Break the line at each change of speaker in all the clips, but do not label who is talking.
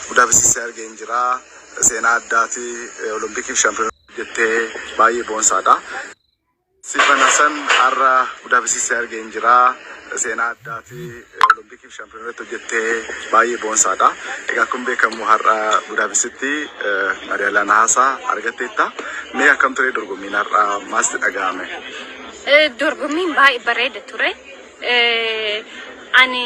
Budaapestitti argeen jira. Seenaa addaati. Olompikiif shaampiyoonaa hojjettee baay'ee boonsaadha. Siifan Hasan har'a Budaapestitti argeen jira. Seenaa addaati. Olompikiif shaampiyoonaa irratti hojjettee baay'ee boonsaadha. Egaa akkuma beekamu har'a Budaapestitti madaalaa nahaasaa argatteetta. Mee akkam ture dorgommiin har'a maalsitti dhaga'ame? Eh, dorgommiin
baay'ee bareeda ture. Eh, ani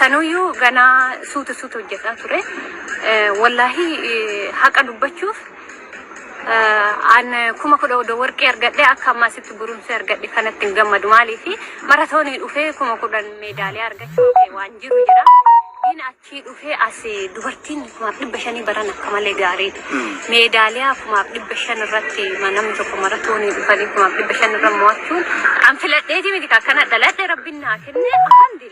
Sanuyyuu ganaa suutu suutu hojjetaa ture. Wallaahi haqa dubbachuuf an kuma kudha odoo warqee argadhe akka ammaa sitti gurumsee argadhe kanatti hin gammadu maaliif maratoonii dhufee kuma kudhan meedaaliyaa argachuu kee waan jiru jira. Diin achii dhufee as dubartiin kumaaf dhibba shanii baran akka malee gaariidha. Meedaaliyaa kumaaf dhibba shan irratti namni tokko maratoonii dhufanii kumaaf dhibba shan irra mo'achuun an filadheetii miti akkana dhaladhe rabbiin naa kenne alhamdulillah.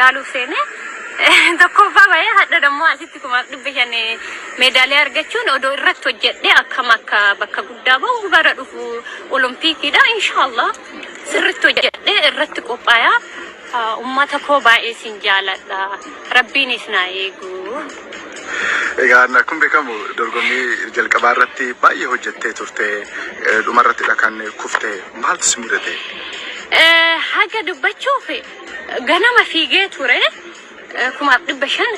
laaluuf seene tokkoffaa bahee hadha dammoo asitti kumaaf dhibba shan meedaaliyaa argachuun odoo irratti hojjedhe akkam akka bakka guddaa bahu bara dhufu olompiikiidha inshaallah sirritti hojjedhe irratti qophaaya ummata koo baay'ee sin jaaladha rabbiin isinaa eegu.
Egaa akkuma beekamu dorgommii jalqabaa irratti baay'ee hojjettee turte dhuma irratti kan kufte maaltu si mudate?
Haga dubbachuuf ganama fiigee ture kumaaf dhibba shan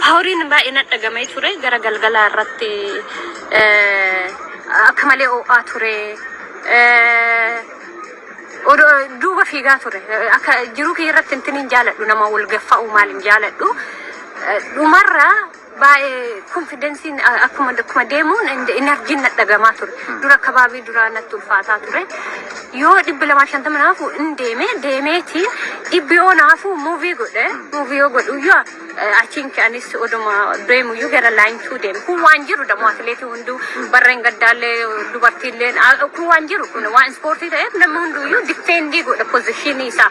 paawuriin baay'ee na dhagamee ture gara galgalaa irratti akka malee oo'aa ture duuba fiigaa ture akka jiruu kiyya irratti intiniin jaaladhu nama wal gaffa'u maal hin jaaladhu dhumarraa baay'ee konfidensiin akkuma akkuma deemuun inarjiin na dhagamaa ture. Dura kabaabii duraa natti ulfaataa ture. Yoo dhibbi lamaa shantama naafu in deeme deemeeti dhibbi yoo naafu muuvii godhe muuvii yoo godhu yoo achiin ka'anis oduma deemu yoo gara laayintuu deemu kun waan jiru dammoo atileetii hunduu barreen gaddaallee dubartiillee kun waan jiru kun waan ispoortii ta'eef namni hunduu yoo difteendii godha pozishinii isaa.